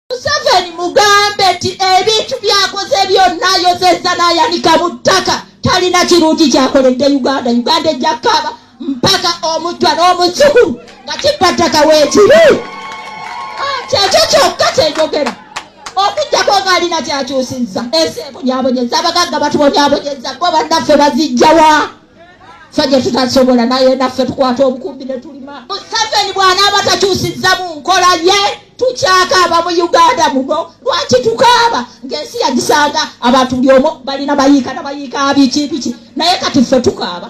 museveni mugambe nti ebintu byakoze byonna yozezza n'ayanika mu ttaka talina kirungi kyakoledde uganda uganda ejja kaaba mpaka omujwa n'omuzukulu nga kibba ttaka weekiri ah, kyekyo kyokka kyenjogera okujjako ng'alina kyakyusizza ensi ebonyabonyeza abagagga batubonyabonyeza bo bannaffe bazijjawa fe gye tutasobola naye naffe tukwata obukumbi ne tulima museveni bw'anaaba takyusizza mu nkola ye tukyakaaba mu uganda muno lwaki tukaaba ng'ensi yagisanga abantu buli omu balina bayiika na bayiika biki biki naye kati ffe tukaaba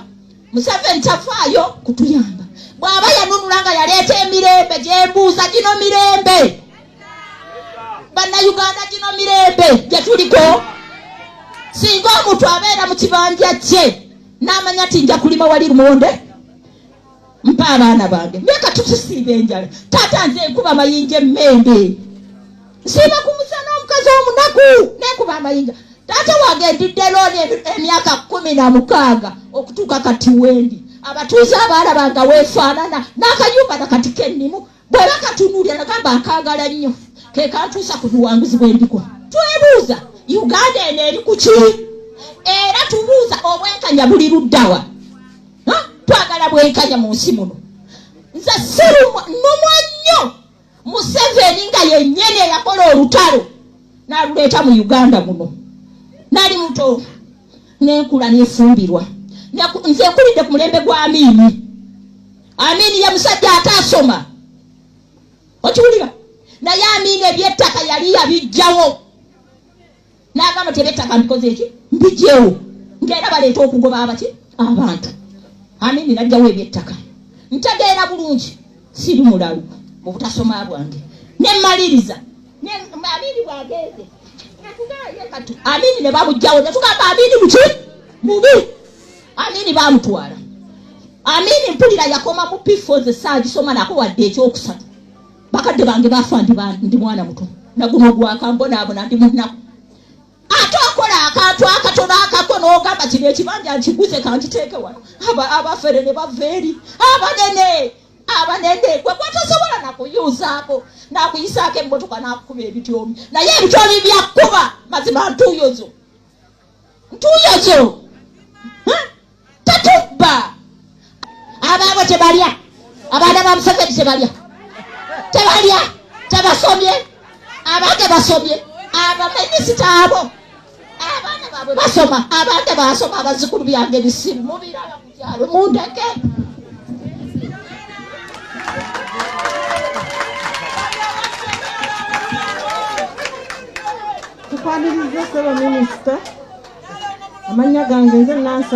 museveni tafaayo kutuyamba bw'aba yanunula nga yaleeta emirembe gyembuuza gino mirembe bannayuganda gino mirembe gye tuliko singa omuntu abeera mu kibanja kye n'amanya ti nja kulima wali lumonde mpa abaana bange naye katutusiiba enjala taata nze enkuba amayinja emmembe nsiiba ku musana omukazi omunaku nenkuba amayinja taata wange ndidde looni emyaka kumi na mukaaga okutuuka kati wendi abatuuze abaala bange weefaanana n'akayumba nakati kennimu bwaba katunuulira nagamba akaagala nnyo kekantuusa ku buwanguzi bwendiko twebuuza uganda eno eri ku ki era tubuuza obwenkanya buli luddawa twagala bwenkanya mu nsi muno nze sinumwa nnyo museveni nga yennyini eyakola olutalo naluleeta mu uganda muno nali muto nenkula nefumbirwa nze nkulidde ku mulembe gwa miimi amini ye musajja ataasoma okiwulira naye amini ebyettaka yali yabijjawo n'agamba ti ebyettaka mbikoze eki mbijjewo ngaera baleeta okugoba abaki abantu amini najjawo ebyettaka ntegeera bulungi siri mulalu mu butasoma bwange nemaliriza amini bwagenze amini ne babujjawo netugamba amini muki mubi Amini baamutwala. Amini mpulira yakoma mu P4 ze saaji soma nako wadde ekyokusatu. Bakadde bange baafa ndi ba ndi mwana muto. Naguno gwakambona abona ndi munnaku. Ate okola akantu akatono akako n'ogamba kino ekibanja nkiguze kankiteeke wano. Aba abafere ne bava eri. Abanene abanene gwe gwatasobola nakuyuzaako nakuyisaako emmotoka nakukuba ebityomi naye ebityomi byakuba mazima ntuuyo zo ntuuyo zo tetubba abaabo tebalya abaana ba museveni tebalya tebalya tebasomye abange basomye abaminisita abo abaana baabwe basoma abange basoma abazikulu byange bisimu mubiraba tukwaniriza sebo minisita amannya gange nze nansa